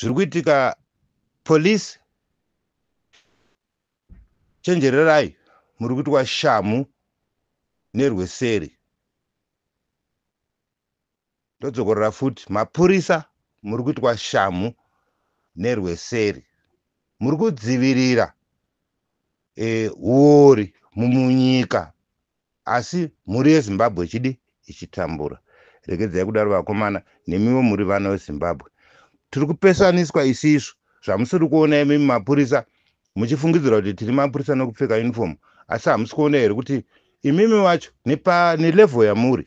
zviri kuitika police chenjererai muri kuitwa shamhu nerweseri ndodzokorora futi mapurisa muri kuitwa shamhu nerweseri muri kudzivirira eh, uori mumunyika Asi mhuri yeZimbabwe ichidi ichitambura. Regedzai kudaro vakomana nemiwo muri vana weZimbabwe. Tiri kupesaniswa isisu zvamusiri kuona imimi mapurisa muchifungidzira kuti tiri mapurisa nekupfeka uniform asi hamusi kuona here kuti imimi wacho nelevel yamuri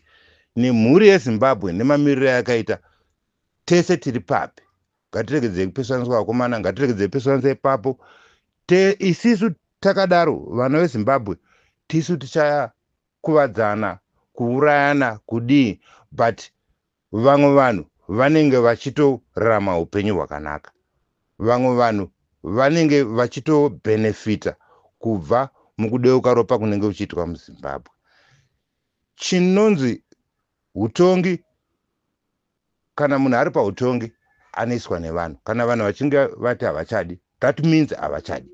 nemhuri yeZimbabwe nemamiriro yakaita tese tiri papi. Ngatiregedzei kupesaniswa vakomana, ngatiregedzei kupesaniswa ipapo. Te isisu takadaro vana veZimbabwe tisu tichakuvadzana, kuurayana, kudii but vamwe vanhu vanenge vachitorarama upenyu hwakanaka. Vamwe vanhu vanenge vachitobenefita kubva mukudeuka ropa kunenge kuchiitwa muZimbabwe. Chinonzi hutongi Kana munhu ari pautongi anoiswa nevanhu kana vanhu vachinge vati havachadi that means havachadi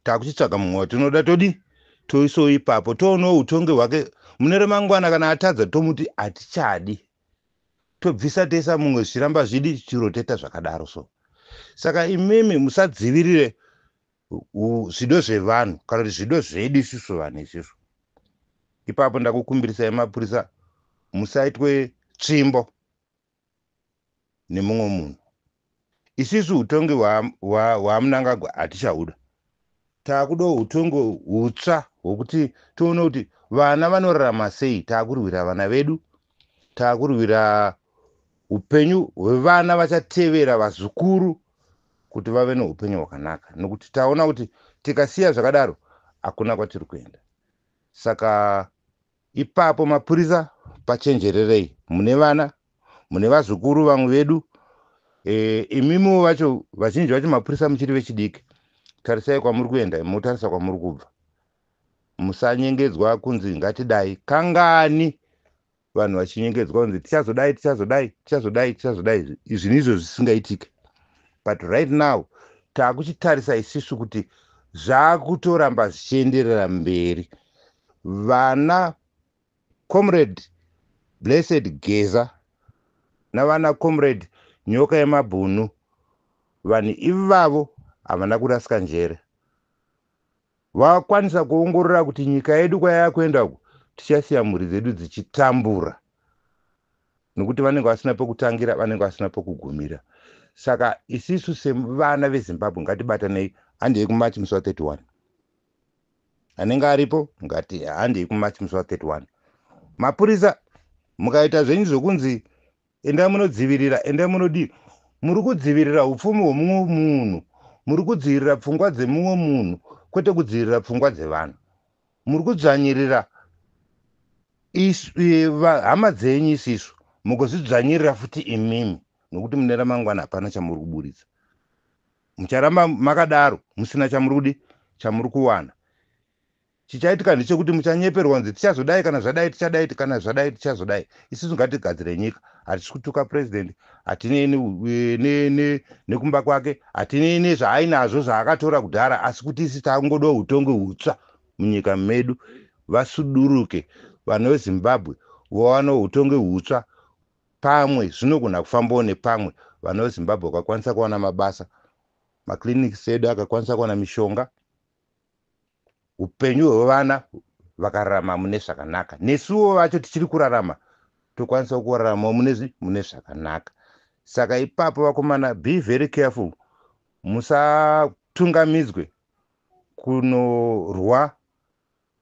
takuchitsvaga mumwe watinoda todi toisawo ipapo toonawo utongi hwake mune remangwana kana atadza tomuti hatichadi tobvisa tesa mumwe zvichiramba zvidi chiroteta zvakadaro so saka imimi musadzivirire zvido zvevanhu kana kuti zvido zvedu isusu vanhu izvizvo ipapo ndakukumbirisai mapurisa musaitwe tsvimbo nemumwe munhu isisu utongi hwamunangagwa wa, wa hatichahuda taakuda utongi hutsva hwokuti tione kuti vana vanorarama sei taakurwira vana vedu Takurwira upenyu hwevana vachatevera vazukuru kuti vave neupenyu hwakanaka nokuti taona kuti tikasiya zvakadaro hakuna kwatiri kuenda. Saka ipapo mapurisa pachenjererei mune vana mune vazukuru vamwe vedu e, imimiwo vacho vazhinji vacho mapurisa muchiri vechidiki tarisai kwamuri kuenda motarisa kwamuri kubva musanyengedzwa kunzi ngatidai kangani vanhu vachinyengedzwa kunzi tichazodai tichazodai tichazodai tichazodai izvi ndizvo zvisingaitike but right now taakuchitarisa isisu kuti zvaakutoramba zvichienderera mberi vana comrade blessed geza navana comrade nyoka yemabhunu vanhu ivavo havana kurasika njere vakwanisa kuongorora kuti nyika yedu kwayakuenda uku tichasiya mhuri dzedu dzichitambura nokuti vanenge vasina pekutangira vanenge vasina pekugumira saka isisu sevana vezimbabwe ngatibatanei handei kumachi musi wa 31 anenge aripo ngati handei kumachi musi wa 31 mapurisa mukaita zvenyu zvekunzi endai munodzivirira endai munodii muri kudzivirira upfumi hwemumwe munhu muri kudzivirira pfungwa dzemumwe munhu kwete kudzivirira pfungwa dzevanhu muri kudzvanyirira hama dzenyu isisu mugozvidzvanyirira futi imimi nokuti mune ramangwana hapana chamuri kuburitsa mucharamba makadaro musina chamuri kudi chamuri kuwana Chichaitika ndechekuti muchanyeperwa kunzi tichazodai kana zvadai tichadai kana zvadai tichazodai. Isusu ngatigadzire nyika. Hatisi kutuka president, hatinei nekumba kwake, hatinei nezvaainazvo zvaakatora kudhara asi kuti isi takungoda hutongi hutsva munyika medu. Vasuduruke vanhu veZimbabwe vawane hutongi hutsva pamwe zvinogona kufambawo nepamwe vanhu veZimbabwe vakakwanisa kuwana mabasa, maclinics edu akakwanisa kuwana mishonga. upenyu hwevana vakararama mune zvakanaka nesuwo vacho tichiri kurarama tokwanisawo kuraramawo munezvi mune zvakanaka saka ipapo vakomana be very careful musatungamidzwe kunorwa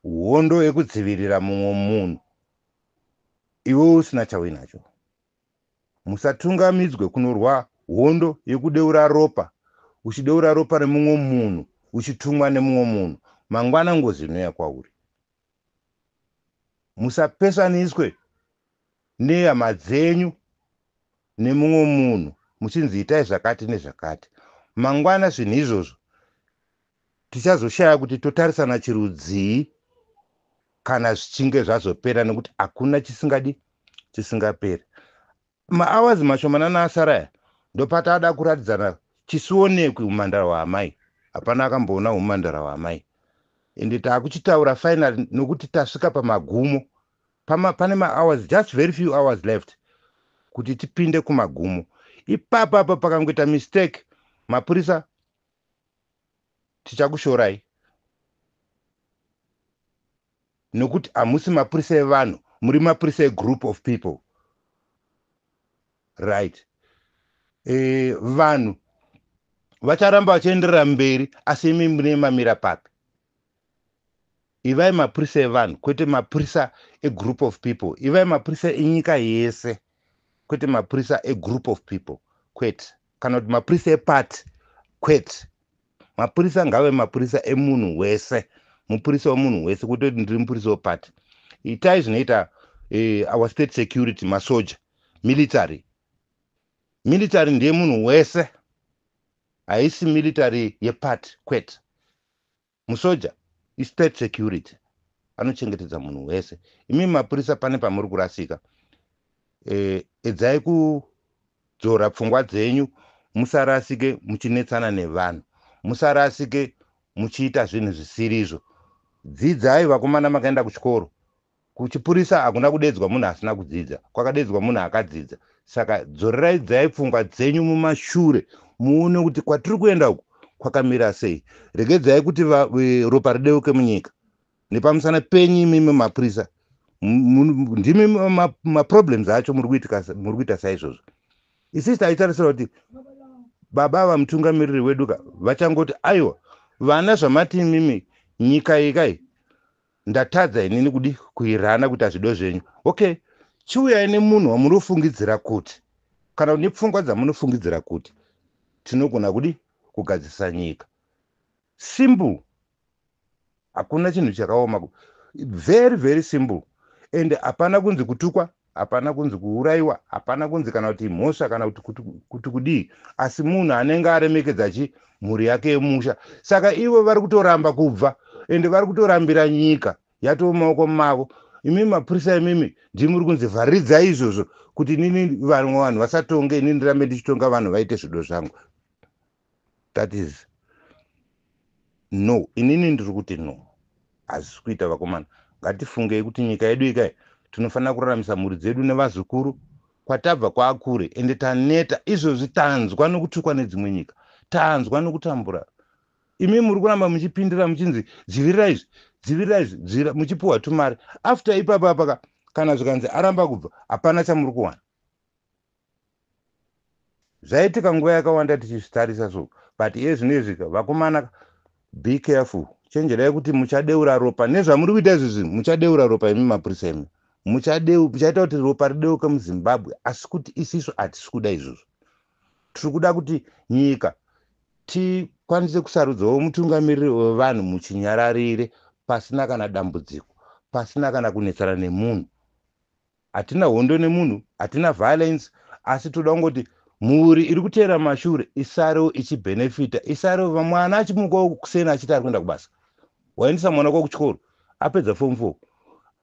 hondo yekudzivirira mumwe munhu iwe usina chauinacho musatungamidzwe kunorwa hondo yekudeura ropa uchideura ropa remumwe munhu uchitumwa nemumwe munhu mangwana ngozi inoya kwauri musapesaniswe nehama dzenyu nemumwe munhu muchinzi itai zvakati nezvakati mangwana zvinhu izvozvo tichazoshaya kuti totarisana chirudzii kana zvichinge zvazopera nekuti hakuna chisingadi chisingaperi maawazi mashomanana asaraya ndopataada kuratidzana chisionekwi umandara hwaamai hapana akamboona umandara hwaamai ende taakuchitaura final nokuti tasvika pamagumo Pama, pane mahours just very few hours left kuti tipinde kumagumo ipapo apo pakangoita mistake mapurisa tichakushorai nokuti hamusi mapurisa evanhu muri mapurisa egroup of people right e, vanhu vacharamba vachienderera mberi asi imi mune mamira papi Ivai mapurisa evanhu kwete mapurisa egroup of people. Ivai mapurisa enyika yese kwete mapurisa egroup of people kwete, kana kuti mapurisa epati kwete. Mapurisa ngave mapurisa emunhu wese, mupurisa wemunhu wese kwete kuti ndiri mupurisa wepati. Itai zvinoita eh, our state security, masoja, military. Military ndeye munhu wese, haisi military yepati kwete. Musoja i state security anochengetedza munhu wese. Imimi mapurisa pane pamuri kurasika. E, edzai kudzora pfungwa dzenyu musarasike muchinetsana nevanhu. Musarasike muchiita zvinhu zvisirizvo. Dzidzai vakomana makaenda kuchikoro. Kuchipurisa hakuna kudeedzwa munhu asina kudzidza, kwakadeedzwa munhu akadzidza. Saka dzoreraidzai pfungwa dzenyu mumashure muone kuti kwatiri kuenda uku kwakamira sei. Regedzai kuti va, e, ropa rideuke munyika. Nepamusana penyu imimi mapurisa ndimi maproblems ma acho muri kuita saizvozvo. Isisi taitarisira kuti baba ava mutungamiriri wedu ka vachangoti aiwa vana zvamati imimi nyika ikai Ndatadza inini kudi kuirana kuita zvido zvenyu ok chiuyai nemunhu wamunofungidzira kuti kana kuti nepfungwa dzamunofungidzira kuti tinogona kudi kugadzirisa nyika simple hakuna chinhu chakaoma very very simple and hapana kunzi kutukwa Hapana kunzi kuuraiwa, hapana kunzi kana kuti mhosva kana kuti kuti, kuti kudii, asi munhu anenge aremekedza chi mhuri yake yemusha. Saka ivo vari kutoramba kubva ende vari kutorambira nyika yatoo mumaoko mavo. Imimi mapurisa imimi ndimi muri kunzi vharidzai izvozvo kuti inini vamwe vanhu vasatonge inini ndirambe ndichitonga vanhu vaite zvido zvangu. that is no inini ndiri kuti no hazvisi kuita vakomana ngatifungei kuti nyika yedu ikai tinofanira kuraramisa mhuri dzedu nevazukuru kwatabva kwakure ende taneta izvozvi tanzwa nokutukwa nedzimwe nyika tanzwa nokutambura imi muri kuramba muchipindira muchinzi dzivirira izvi dzivirira izvi dzivira muchipiwa tumari after ipapa apaka kana zvikanzi aramba kubva hapana chamuri kuwana zvaitika nguva yakawanda tichizvitarisa so but iye zvino izvi vakomana be careful chenjerai kuti muchadeura ropa nezvamuri kuita izvi zvinhu muchadeura ropa imi mapurisa imi muchaita kuti ropa rideuke muzimbabwe asi kuti isisu hatisi kuda izvozvo tiri kuda kuti nyika tikwanise kusarudzawo mutungamiriri wevanhu muchinyararire pasina kana dambudziko pasina kana kunetsana nemunhu hatina hondo nemunhu hatina violence asi toda kungoti mhuri iri kuteera mashure isarewo ichibenefita isarewo vamwana achimukawo kuseni achiti ari kuenda kubasa waendesa mwana kwa kuchikoro apedza form four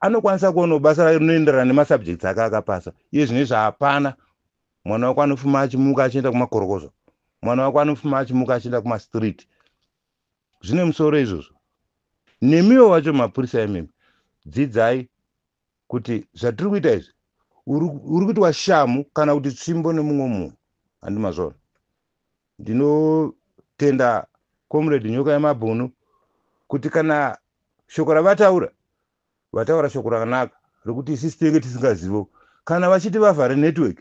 anokwanisa kuonawo basa rayo rinoenderana nemasubjects ake akapasa iye zvine zvaapana mwana wako anofuma achimuka achienda kumakorokozo mwana wako anofuma achimuka achienda kumastreet zvine musoro izvozvo nemiwo vacho mapurisa emimi dzidzai kuti zvatiri kuita izvi uri kuitwa shamu kana kuti tsvimbo nemumwe munhu handi mazvona ndinotenda comrade nyoka yemabhunu kuti kana shoko ravataura vataura shoko rakanaka rekuti isisi tinenge tisingazivo kana vachiti vavhare network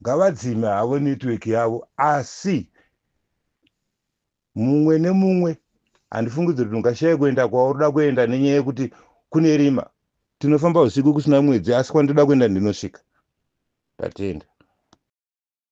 ngavadzime havo network yavo asi mumwe nemumwe handifungidziri kuti ungashaye kuenda kwauri da kuenda nenyaya yekuti kune rima tinofamba usiku kusina mwedzi asi kwandoda kuenda ndinosvika tatenda